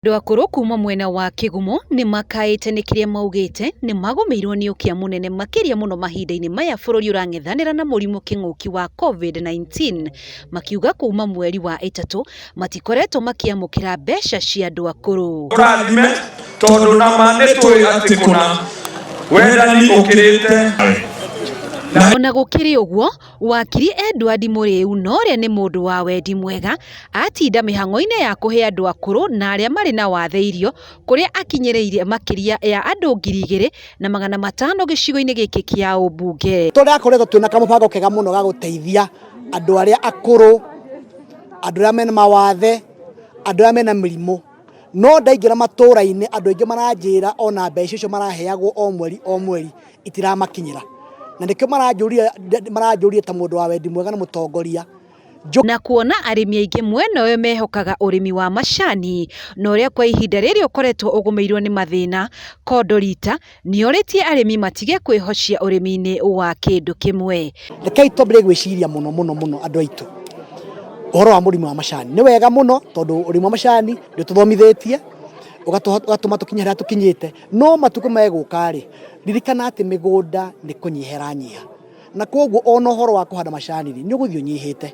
Andũ akũrũ kuma mwena wa kĩgumo nĩmakaĩte nĩ kĩrĩa maugĩte nĩmagũmĩirwo nĩ ũkĩa mũnene makĩria mũno mahinda-inĩ maya bũrũri ũrang'ethanĩra na mũrimũ kĩng'ũki wa Covid-19 makiuga kuma mweri wa ĩtatũ matikoretwo makĩamũkĩra mbeca cia andũ akũrũ. Tũrathime tondũ nama nĩtũĩ atĩ kũna wendani ũkĩrĩte. Ona gũkĩrĩ ũguo, Wakiri Edward Mũrĩu Nore nĩ mũndũ wa wendi mwega, atinda mĩhang'o-inĩ ya kũhe andũ akũrũ na arĩa marĩ na wathe irio, kũrĩa akinyĩrĩirie makĩria ya andũ ngiri igĩrĩ na magana matano gĩcigo-inĩ gĩkĩ kĩa ũmbunge. Tũrakoretwo twĩna kamũbango kega mũno ga gũteithia andũ arĩa akũrũ, andũ arĩa mena mawathe, andũ arĩa mena mĩrimũ. No ndaingĩra matũra-inĩ andũ aingĩ maranjĩra ona mbeca icio maraheagwo o mweri o mweri itiramakinyĩra na nĩkĩo maranjũria maranjũria ta mũndũ wa wendi mwega na mũtongoria na kuona arĩmi aingĩ mwena ũyũ mehokaga ũrĩmi wa macani na ũrĩa kwa ihinda rĩrĩ ũkoretwo ũgũmĩirwo nĩ mathĩna, Kondorita nĩorĩtie arĩmi matige kwĩhocia ũrĩmi-inĩ wa kĩndũ kĩmwe. Rekei twambĩrĩrie gwĩciria mũno mũno mũno andũ aitũ ũhoro wa mũrĩmi wa macani. Nĩ wega mũno tondũ ũrĩmi wa macani nĩũtũthomithĩtie ũgatũma tũkinye harĩa tũkinyĩte, no matukũ megũka-rĩ ririkana atĩ mĩgũnda nĩ kũnyiha ĩranyiha na koguo ona ũhoro wa kũhanda macani-rĩ nĩ ũgũthiĩ ũnyihĩte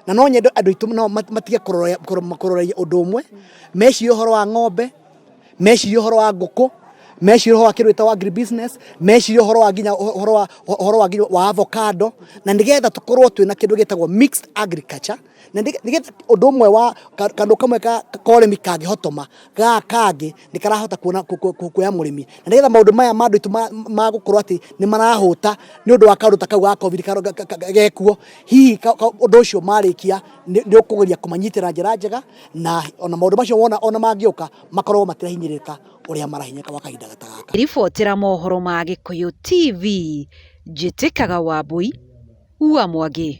na no nyende andũ aitũ nao mat- matige kũrore- kũro- kũroreria ũndũ ũmwe mecirie ũhoro wa ng'ombe mecirie ũhoro wa ngũkũ mecirie ũhoro wa kĩndũ gĩtagwo agribusiness mecirie ũhoro wa nginya ũhoro wa ũhoro wa nginya wa avocado na nĩgetha tũkorwo twĩna kĩndũ gĩtagwo mixed agriculture na nĩgetha ũndũ ũmwe wa kandå kamwe ka koremi kangĩhotoma ga kangĩ nĩ karahota kuona kuoya mũrĩmi na nĩgetha maũndũ maya ma andũ aitũ ma gũkorwo atĩ nĩ marahũta nĩ ũndũ wa kaũndũ ta kau ga covid gekuo hihi ũndũ ũcio marĩkia nĩ ũkũgeria kũmanyitĩra njĩra njega na ona maũndũ macio wona ona mangĩũka makorwo matirahinyĩrĩka ũrĩa marahinyĩrĩka gwa kahinda ta gaka ribotera mohoro ma gĩkũyũ tv njĩtĩkaga wambui ua mwangi